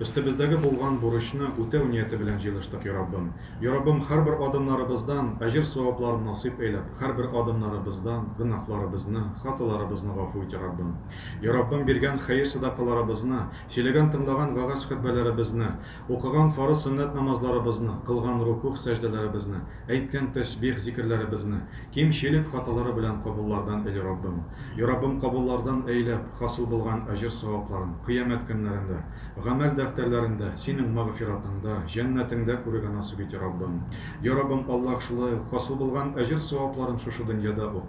Өстебездәге булган бурычны үтәү нияте белән җыелыштык, я Раббым. Я Раббым, һәрбер адымнарыбыздан әҗер-савапларын насыйп әйләп, һәрбер адымнарыбыздан гөнаһларыбызны, хаталарыбызны гафу ит, я Раббым. Я Раббым, биргән хәер-сәдакаларыбызны, сөйләгән-тыңлаган вәгазь-хөтбәләребезне, укыган фарыз-сөннәт намазларыбызны, кылган рукугъ-сәҗдәләребезне, Әйткән тәсбих зикерләребезне, ким чилек хаталары белән кабуллардан ил Раббым. И Раббым кабуллардан әйләп, хасыл булган әҗер савапларын, кыямәт көннәрендә, гамәл дәфтәрләрендә, синең магъфиратыңда, җәннәтеңдә күрергә насыйп ите Раббым. И Раббым Аллаһ шулай ук хасыл булган әҗер савапларын шушы дөньяда ук,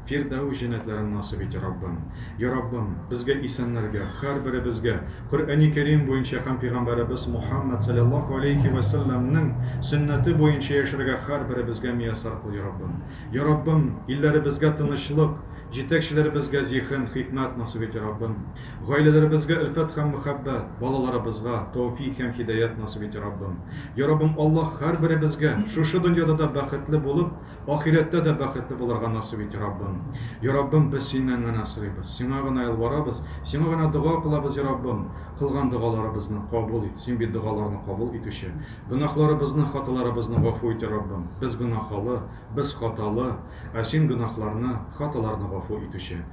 Фирдәүс җәннәтләрен насыйп ите, Раббым! Я Раббым, безгә исәннәргә, һәрберебезгә, Коръәни Кәрим буенча һәм пигамбәребез Мухаммәд салләллаһу алейһи вә сәлләмнең сөннәте буенча яшәргә һәрберебезгә мияссәр кыл, я Раббым! Я Раббым, илләребезгә тынычлык, җитәкчеләребезгә зиһен, хикмәт насыйп ите, Раббым! Гаиләләребезгә өлфәт һәм мөхәббәт, балаларыбызга тәүфик һәм һидаять насыйп ите, Раббым! Я Раббым Аллаһ һәрберебезгә шушы дөньяда да бәхетле булып, Ахирәттә дә бәхетле булырга насыйп ит, Раббым. Йа Раббым, без Синнән генә сорыйбыз, Сиңа гына ялварабыз, Сиңа гына дога кылабыз, Йа Раббым. Кылган догаларыбызны кабул ит, Син бит догаларны кабул итүче. Гөнаһларыбызны, хаталарыбызны гафу ит, Йа Раббым. Без гөнаһалы, без хаталы, ә Син гөнаһларны, хаталарны гафу итүче.